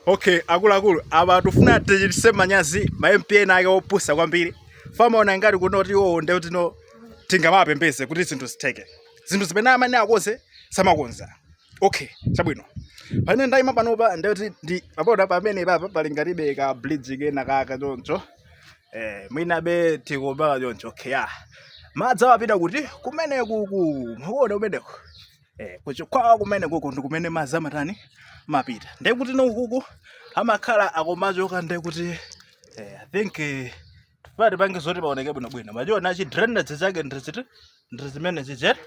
okay akuluakulu apa tifuna tichititse manyazi ma mp ena ake opusa kwambiri amaona ngati kunena kuti iwowo nde kuti no tingamapembeze kuti zinthu zitheke zinthu zimene amene akonze samakonza okay chabwino pamene ndayima panopa nde kuti ndi papoda pamenepapa pali ngatibe ka bridge kena kaka choncho eh mwinabe tikobala choncho okay ah madzi amapita kuti kumenekuku mukuona kumeneko Eh, kuChikwawa kumeneku uko ndi kumene madzi amatani amapita ndiye kuti nokuku amakhala akumachoka ndiye kuti eh, i think eh, tifuna tipange zoti paoneke bwinobwino mwachiona chi drainage chake ndiziti ndi zimene zichete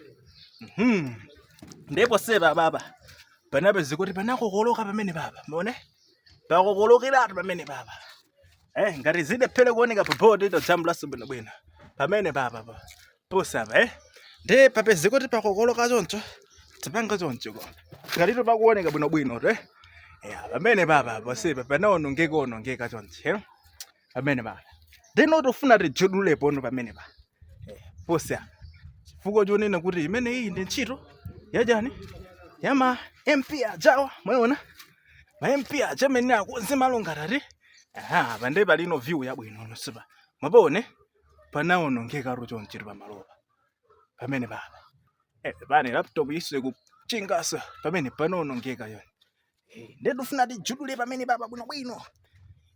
Mhm. ndipo ponsepa apapa panapezeka kuti panakokoloka pamenepapa muone pakokolokeratu pamenepapa eh ngati zilephere kuoneka pa board ito jambulaso bwinobwino pamenepapa pa ponsepa eh nde papezeka kuti pakokoloka choncho tipanga choncho koma tikatito pakuoneka bwinobwino to eh ya pamenepapa ponsepa panaonongeka onongeka choncho eh pamenepapa nde no tufuna tijudule pano pamenepa eh, ponse apa chifukwa chonena kuti imene iyi ndi ntchito yachani ya ma mp ajawa mwawaona ma mp aja amene akonze malo ngati ati aha pande palino view yabwino ponsepa mwapaona panawonongeka choncho chi pamalopa pamenepapa eh, pane laptop yisire kuchingasa pamene panawonongeka yoni eh, nde ndifuna tijudule pamenepapa bwinobwino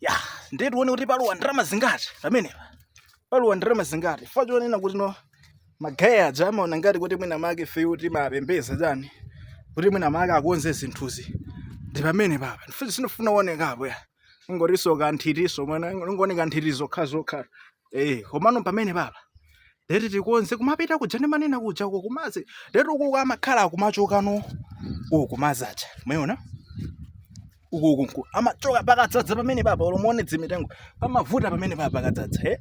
ya nde tione kuti palowa ndalama zingati pamenepa palowa ndalama zingati fa chonena kuti no magaye aja amaona ngati kuti mwina make ifeyo timapembedza chani kuti mwina make akonze zinthuzi nde pamenepapa ndifuna sinofuna uonekapo ya ingotinso kanthitinso mwana ingoni kanthiti zokha zokha eh komano pamenepapa lero tikonze kumapita kuja ndimanena kuja uko kumadzi lero uko amakhala akumachoka no uko kumazacha umeona uko uko uko amachoka pakadzadza pamenepapa olo muone zimitengo pamavuta pamenepapa pakadzadza eh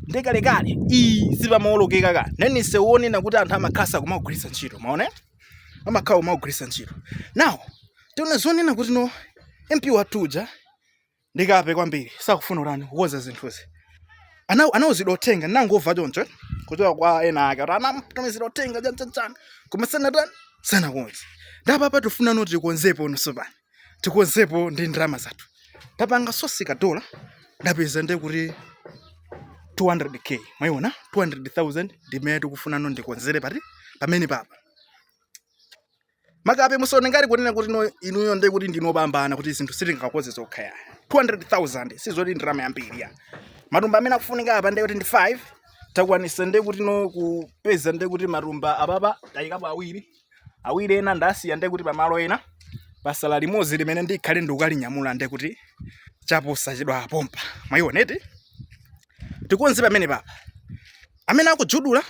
ndekalekale iyi sipamaolokeka ka inunso muone kunena kuti anthu amakhala kumagwiritsa ntchito mwaona amakhala akumagwiritsa ntchito now tiona zonena kuti no mp wathu uja ndikape kwambiri sakufuna kutani kukonza zinthuzi Ana- anawuzidwa uthenga ndinangomva choncho kuchoka kwa ena ake kuti anamutumizira uthenga chanchanchan koma sanatani sanakonze nde apapa tifuna noti tikonzepo mwaonatu mpaka pani tikonzepo ndi ndalama zathu tapanga sosi ya dola ndapeza nde kuti 200k mwaiona 200000 ndimene tikufuna no tikonzere pati pamenepapa makape musaone ngati kunena kuti no inuyo nde kuti ndinu opambana kuti zinthu sitingakonze tokha ya 200000 sizoti ndalama yambiri ya matumba amene akufunika apa nde kuti ndi 5 takwanisa nde kuti no kupeza nde kuti matumba apapa tayikapo awiri awiri ena ndasiya ndiye kuti pamalo ena pasala limodzi limene ndikhale ndikukalinyamula ndiye kuti chaposa chidwa pompa mwayiona eti tikonze pamene papa amene akujudula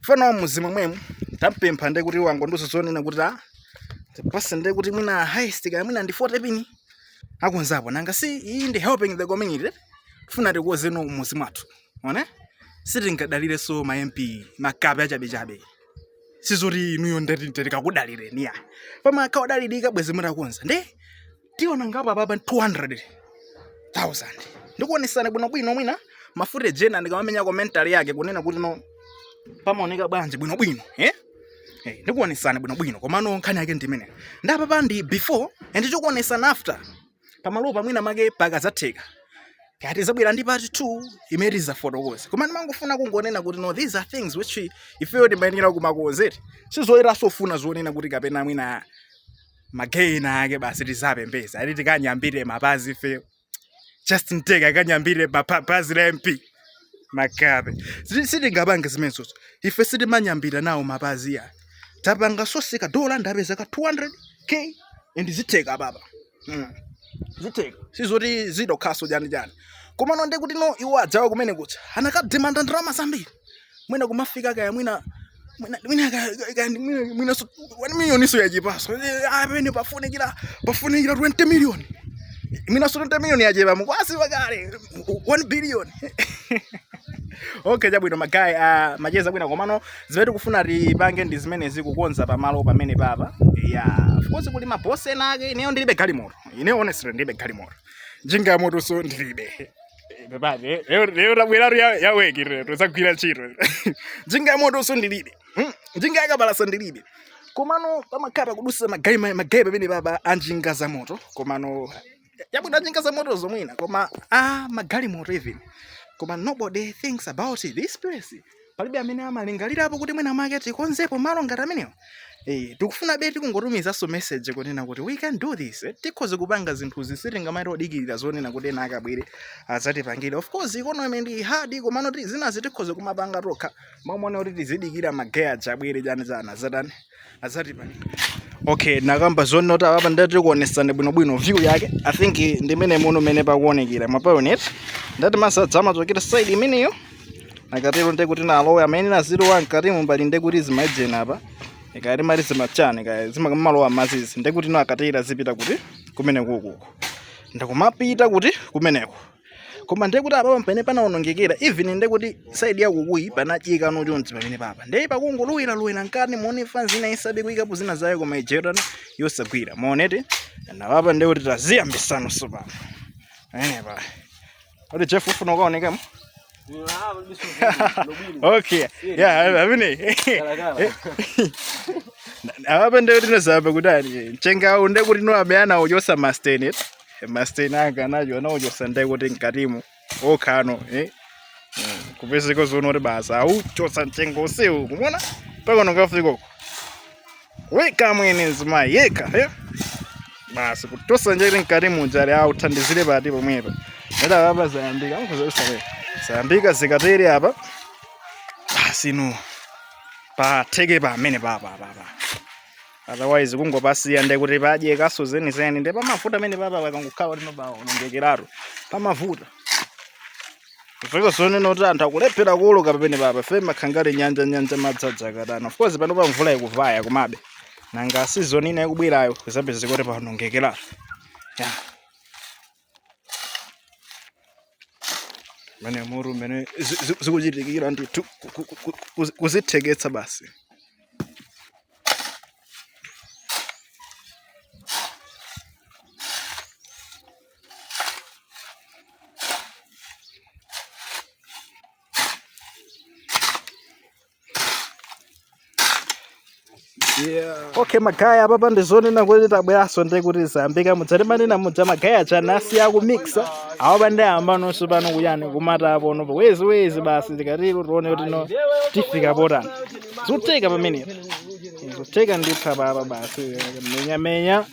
fana wa muzi momwemu tampempha ndiye kuti wangondiuza zonena kuti apase ndiye kuti mwina highest kaya mwina ndi 40 pini akonzapo nanga si iyi ndi helping the community tifuna tikonze no muzi mwathu one sitingadalirenso ma mp makape achabechabe sizoti inuyo ndati tikakudalireni ya pama akawadalirika bwezi mutakonza nde tiona ngapo apapa 200,000 ndikuonesana bwinobwino mwina ma footage ena ndikamamenya commentary yake kunena kuti no pamaoneka bwanji bwinobwino eh? Hey, eh, ndikuonesana bwinobwino komano nkhani yake ndimene ndi apapa ndi before and tikuonesana after pamalopa mwina mwake pakazatheka kaya tizabwera ndi part 2 imene tizafotokoze koma ndimangofuna kungonena kuti no these are things which ifeyo timayenera kumakonza eti sizoyenera sofuna zonena kuti kapena mwina magayi ena ake basi tizapembeza ati tikanyambire mapazi ifeyo justin tega akanyambire mapazi a mp makape sitingapange zimenezozo ife sitimanyambira nawo mapazi ya tapanga source ka dola ndapeza ka 200 k and zitheka baba mm. zitheka sizoti zidokhaso chani chani komano nde kuti no iwo adzawa kumene kuti anakademanda ndalama zambiri mwina kumafika kaya mwina 1 miliyoniso yachepaso apa nde pafunikira pafunikira 20 miliyoni mwinaso 20 miliyoni yachepa mukuziwa kale 1 billion okay chabwino magayi uh, macheza abwino komano zimene tikufuna tipange ndi zimenezi kukonza pamalo pamene papa ya of course kuli mabosi ena ake ineyo ndilibe galimoto ineyo honestly ndilibe galimoto njinga ya motonso ndilibe pepani eh, lero lero tabweratu ya ya weki lero tozagwira ntchito njinga ya motonso ndilibe Hmm, njinga yakapalasa ndilibe komano pamakhala pakudusa magayi ma- magayi pamene papa anjinga za moto komano chabwino anjinga za motoso mwina koma ah, magalimoto even koma nobody thinks about this place palibe amene amalingalirapo kuti mwina mwake tikonzepo malo ngati amenewo Eh, tikufunabe tikungotumizanso message kunena kuti we can do this eh, tikhoza kupanga zinthuzi sitingamati odikirira zonena kuti ena ake abwere adzatipangire of course economy ndi hard komano ti- zinazi tikhoza kumapanga tokha mmalo monena kuti tizidikira magayi aja abwere chani chani azatani azatipangire okay ndakamba zonena kuti apapa ndati tikuonesani bwinobwino view yake i think ndi imene muno mene pakuonekera mwapaona eti ndati mazi adzamachokera side imeneyo nakatero nde kuti nalowa amene nazilowa mkati mumbali nde kuti zimaijena apa ikati mali zimachani kaya zimakamalowa mazizi nde kuti no akatero azipita kuti kumeneku kuku ndikumapita kuti kumeneko koma ndiye kuti apapa pamene panawonongekera even ndiye kuti side ya ukuyi panadyeka no chonchi pamene papa ndiye pakungolowera lowera mkati muone fans ina isabe kuyikapo zina zaye koma ijerana yosagwira muonete ndi papa ndiye kuti taziyambisano tsopano pamenepa kuti jeff ufuna ukaonekamo okay yeah amene apa nde kuti nozapa kuti ali mchengawu nde kuti noabe anauchosa masten'ti masten'ti aganajo anauchosa nde kuti mkatimo mokha no eh? Mm, kupezeka zoona kuti basa auchosa mchenga ukuona mpaka no kafika uko weka mwene nzima yeka eh? basi kuchotsa njere mkatimu kuti uthandizire bati pomwepa nde papa zayambika mukuzosare zayambika zikatere apa basi no patheke pamene papa papa otherwise kungopasiya nde kuti padyekanso zenizeni nde pamavuta pamene papa pakangokhala kuti no pawonongekeratu pamavuta Kufika zonena kuti anthu akulephera kuwoloka pamene papa ife makhangati nyanja nyanja imadzadza kutani. Of course pano pa mvula ikuvaya, komabe. Nanga season ina ikubwerayo zapezeka kuti pawonongekeratu. Ya. Mene mutu mene zi- zi- zikuchitikira ndithu ku- ku- ku- ku- kuzitheketsa basi. okay magaya apapa ndi zonena kuti tabweranso nde kuti zayambika muja timanena muja magaya aja nazi akumixa awo pa ndiyamba no tsopano kuyani kumata apono wesi wesi basi tikatero tione kuti no tifika potani zotheka pamenepo zotheka ndithu papa basi menya menya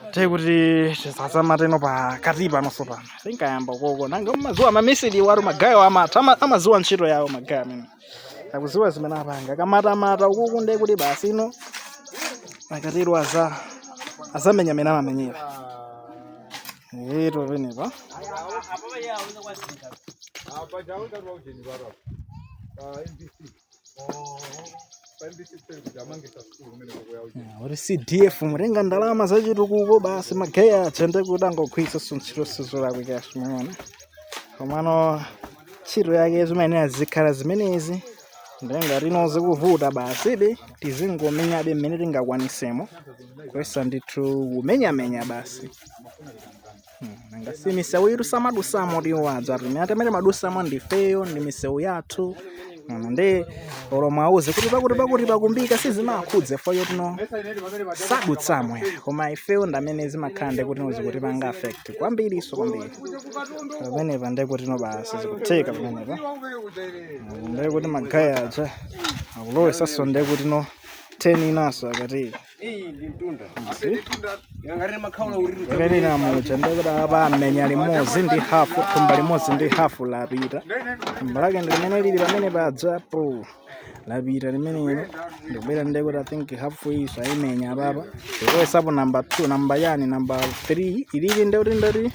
nde kuti tisazamate no pakati pano tsopano tikayamba uko ko nanga mumaziwa amisiri athu magayewo amatha ama- amaziwa ntchito yawo magaye amene akuziwa zimene apanga kamatamata ukuku nde kuti basi ino akatero aza azamenya amene amamenyera eti pamenepa kuti cdf mutenga ndalama zachitukuko basi magaye aja nde kuti angogwiritsa ntchito sizolakwika si mwaona komano ntchito yake zimayenera zikhala zimenezi nde ngati no zikuvuta basi tizingomenyabe mmene tingakwanisemo kuyesa ndithu kumenyamenya basi nanga si misewuyitu samadutsamo iwo aja amene timadutsamo ndifeyo ndi misewu yathu Mm, nde olo muwauze kuti pakuti pakuti pakumbika sizimawakhudza iwowo poti sadutsamo ya koma ifeyo ndi amene zimakhala nde kuti no zikutipanga affect kwambirinso kwambiri pamenepa nde kuti no basi zikutheka pamenepa Mm, nde kuti magaye aja akulowetsanso nde kuti no 10 inanso akati Yakanena muja nde kuti apa amenya limodzi ndi hafu thumba limodzi ndi hafu lapita thumba lake ndi limene lili pamene pajapo lapita limenelo ndikubwera nde kuti i think hafu iyi ayimenya apapa ndikubweretsapo namba two namba wani namba three ilili nde kuti ndati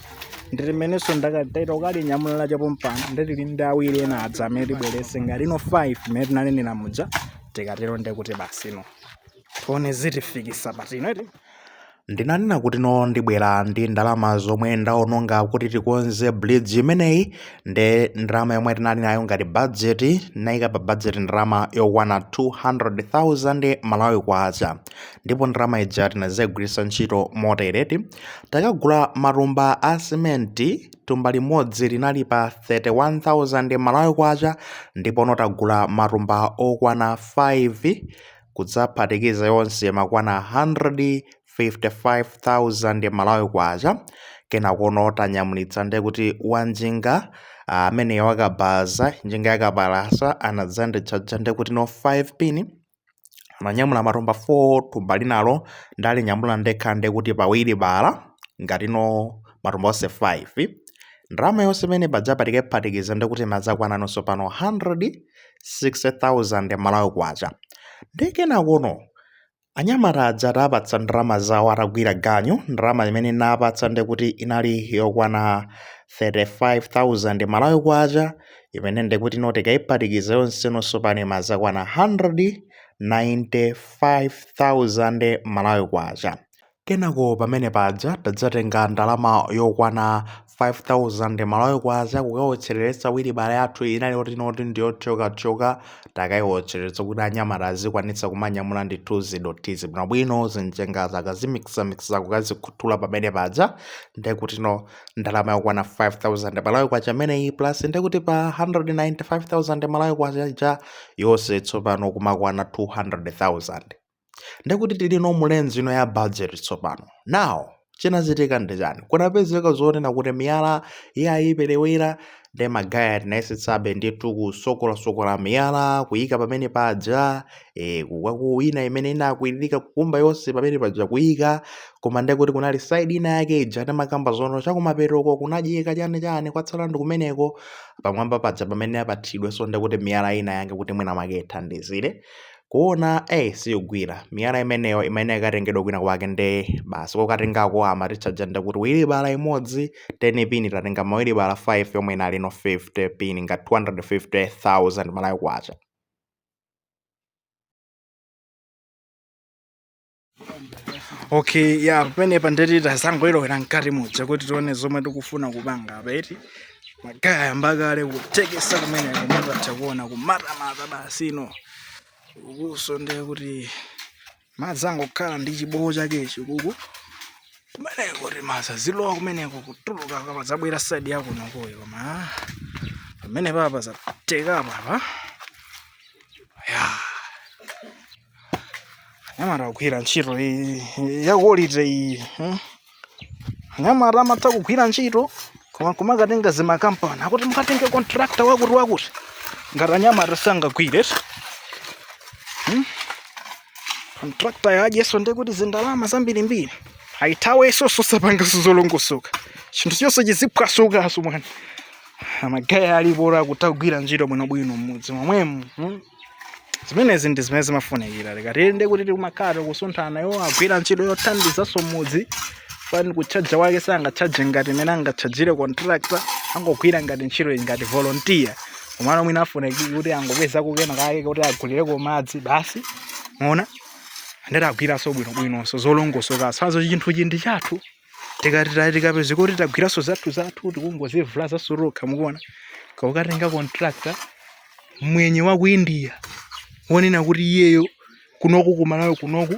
ndi limenenso ndakatayita kukalinyamula lacha pompano nde tili ndi awiri ena aja amene tibweretse ngati no five mmene tinanenera muja tikatero nde kuti basi no tione zitifikisa pati ino iti ndinanena kuti no ndibwera ndi ndalama zomwe ndaononga kuti tikonze bridge imeneyi nde ndalama yomwe tinali nayo ngati budget naika pa budget ndalama yokwana 200,000 malawi kwacha ndipo ndalama ija tinadzaigwiritsa ntchito motereti takagula matumba a simenti tumba limodzi linali pa 31,000 malawi kwacha ndipono tagula matumba okwana 5 kudzaphatikiza yonse kumakwana 155,000 malawi kwacha kenakono tanyamulitsa nde kuti wanjinga amene uh, wakabaza njinga yakapalasa anadzanditchaja nde kuti no 5 pin ananyamula matumba 4 tumba linalo ndalinyamula ndekha nde kuti pa wilibala ngati no matumba onse 5 ndalama yonse imene tadzaphatikaphatikiza nde kuti imadzakwana tsopano 100 60,000 Malawi Kwacha. Ndiye kenakono anyamata aja tawapatsa ndalama zawo atagwira ganyu, ndalama imene tinawapatsa ndiye kuti inali yokwana 35,000 Malawi Kwacha imene ndiye kuti no tikayiphatikiza yonse no tsopano imadzakwana 195,000 Malawi Kwacha. Kenako pamene paja tadzatenga ndalama yokwana 5000 malawi kwacha kukawotchereretsa wilibala yathu inali yoti no ndiyothyokathyoka takaiwotcheretsa kuti anyamata azikwanitsa kumanyamula ndithu zidothizi bwinobwino zinjengazi akazimikisamikisa kukazikhuthula pamene paja nde kuti no ndalama yokwana 5000 malawi kwacha imeneyi plus nde kuti pa 195000 malawi kwacha ija yonse tsopano kumakwana 200000 ndekuti tili no mulevel ino ya budget tsopano now chinachitika ndi chani kunapezeka zonena kuti miyala yaperewera nde magaye tinayesetsabe ndithu kusokolasokola miyala kuyika pamene paja e, kwina imene inakwiririka kukumba yonse pamene paja kuyika koma ndekuti kunali side ina yake ija timakamba zona chakumapetoko kunadyeka chani chani kwatsala ndi kumeneko pamwamba paja pamene apatidwe so ndekuti miyala ina yake kuti mwina make ithandizire kuona ayi siyigwira miyala imeneyo imene ikatengedwa kwina kwake nde basi kokatengako amatitchaja ndekuti wilibala imodzi 10 pin tatenga mawilibala 5 yomwe inali ndi 50 pin ngati 250000 malawi kwacha okay ya yeah, pamenepa ndekuti tazangolowera mkati muja kuti tione zomwe tikufuna kupanga apa eti magaye mbakale kutekesa kumeneko mutha kuona kumatamata basi inu ukuso ndiye kuti madzi angokhala ndi chibowo chakechi uku kumeneko kuti madzi azilowa kumeneko kutuluka kapena azabwera side yakunokoyo koma ah, pamenepapa zateka papa ya yeah. anyamata akugwira ntchito ya quality iyi hmm? anyamata amatha kugwira ntchito koma kumakatenga zimakampani akuti mukatenge contractor wakuti wakuti ngati anyamata sangagwire hmm? contractor atchajeso ndi kuti zindalama zambirimbiri ayithaweso zosapanga zolongosoka chinthu chonse chiziphwasukaso mwaona magaye alipo okutha kugwira ntchito bwinobwino mmudzi momwemo hmm? zimenezi ndi zimene zimafunikira tikatero ndekuti tikumakhala tikusunthana iwo agwira ntchito yothandizanso mudzi pano katchajidwe kake sangatchaje ngati mmene angatchajire contractor angogwira ngati ntchito ngati volunteer komano mwina afuneke kuti angopeza kenakake kuti agulireko madzi basi muona ndekuti agwiranso bwinobwinonso zolongosokaso zawo chinthu chi ndi chathu tikapezeka kuti tagwiranso zathu zathu tikungozivulaza tokha mukuona kaukatenga contractor mwenye wa ku india wonena kuti iyeyo kunoku kumalawi kunoku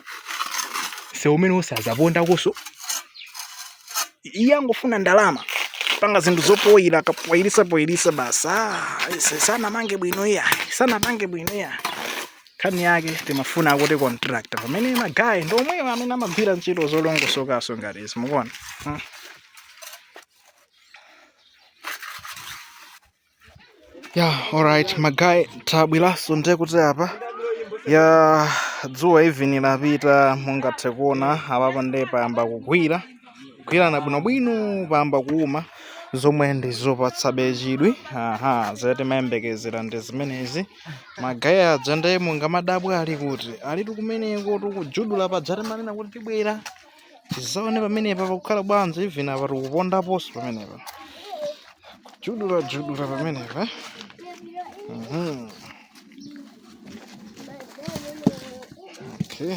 si mmene uzazapondakoso iye akungofuna ndalama panga zinthu zopoyira akapoyirisa poyirisa basi ah, sanamange bwino iya sanamange bwino iya nkhani yake timafuna kuti contractor pamene magayi ndi omwewo amene amagwira ntchito zolongosokaso ngati izi mukuona hmm. ya yeah, alright magayi tabweraso nde kuti apa ya dzuwa even lapita mungathe kuona apapa nde payamba kugwira kugwirana bwinobwino payamba kuuma zomwe ndizopatsabe chidwi aha zotimayembekezera ndi zimenezi magayi aja ndiye mungamadabwe ali kuti alitu kumeneko tikujudula paja timanena kuti tibwera tizaone pamenepa pakukhala bwanji even apa tikupondaponso pamenepa kujudula judula pamenepa mhm. okay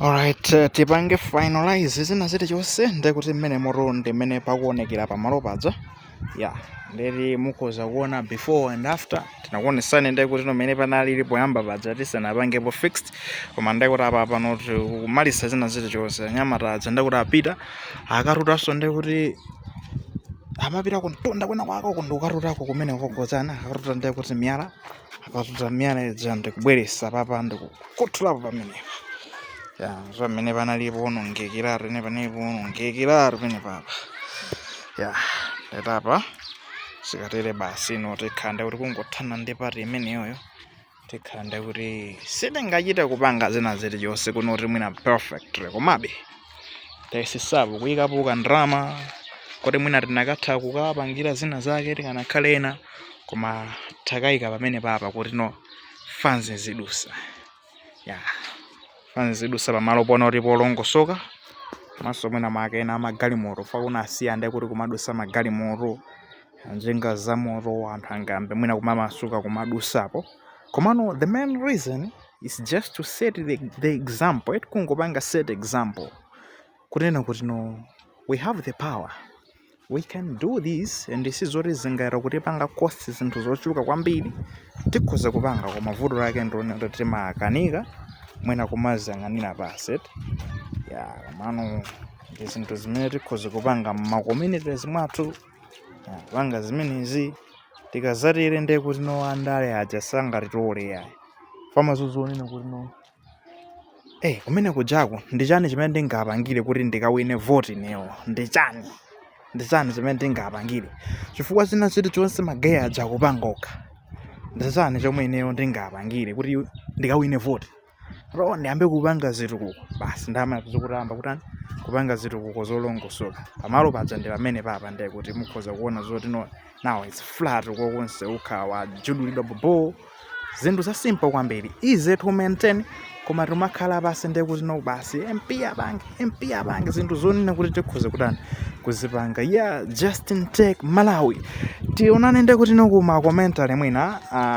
Alright, eh, tipange finalize china chilichonse ndekuti mmene motu ndi mmene pakuonekera pamalo paja ya ndeti mukhoza kuona before and after tinakuonesani ndekuti mmene panalili poyamba paja tisanapangepo fixed koma ndekuti apa pano tikumaliza china chilichonse anyamata aja ndekuti apita akatutanso ndekuti amapita kuntunda kwina kwake ndikukatutako kumene kogozana akatuta ndekuti miyala akatuta miyala ija ndikubweresa papa ndikukhuthulapo pamenepa ya pamene panali powonongekera pene panali powonongekera pene papa ya ndetapa zikatere basi no tikhala kuti kungothana ndi pati imeneyoyo tikhala kuti sitingachite kupanga zina zilizonse kuno kuti mwina perfect komabe tayesesapo kuyikapo kandrama koti mwina tinakatha kukapangira zina zake tikanakhala ena koma takayika pamene papa kuti no fanzi zidusa ya fanzi zidusa pamalo poona kuti polongosoka komaso mwina make ena amagalimoto fukwa anasiya ndi kuti kumadusa magalimoto njinga za moto anthu angayambe mwina kumamasuka kumadusapo Komano the main reason is just to set the, the example eti kungopanga set example kunena kuti no we have the power we can do this and this is zoti zingayenera kutipanga cost zinthu zochuluka kwambiri tikhoza kupanga koma vuto lake ndi lonena kuti timakanika mwina kumaziyang'anira basi eti ya komano ndi zinthu zimene tikhoza kupanga mma communities mwathu Panga zimenezi tikazatere ndiye kuti no andale aja sangatitole yayi azaziona kuti no eh kumene kujako ndi chani chimene ndingapangire kuti ndikawine voti newo ndi chani ndi chani chimene ndingapangire chifukwa china chilichonse magayi aja akupanga okha ndi chani chomwe ineyo ndingapangire kuti ndikawine voti Bro, ndiyambe kupanga zitukuko basi ndama zikuyamba kutani kupanga zitukuko zolongosoka pamalo paja ndi pamene papa ndiye kuti mukhoza kuona zoti no now it's flat konseku khala wajudulidwa bobo zinthu za simple kwambiri easy to maintain koma timakhala pansi ndiye kuti no basi mp apange mp apange zinthu zonena kuti tikhoza kutani kuzipanga yeah justin tech malawi tionane ndiye kuti no kumakomenti mwina ah,